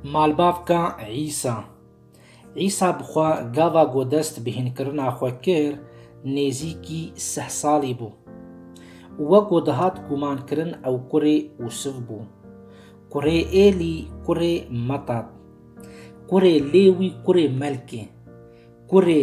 Malbavka Îsa Îsa bi xwe gava ku dest bi hînkirina xwe kir nêzîkî sih salî bû. Weko dihat gumankirin ew kurê Usif bû. Kurê Êlî, kurê Metat. Kurê Lêwî, kurê Melkê. Kurê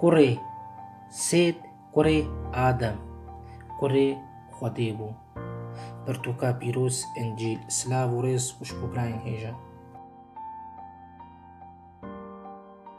Kurê Sêt kurê Adem, kurê Xwedê bû. Pirtûka pîroz, Încîl. Silav û rêz û şipobrayên hêja.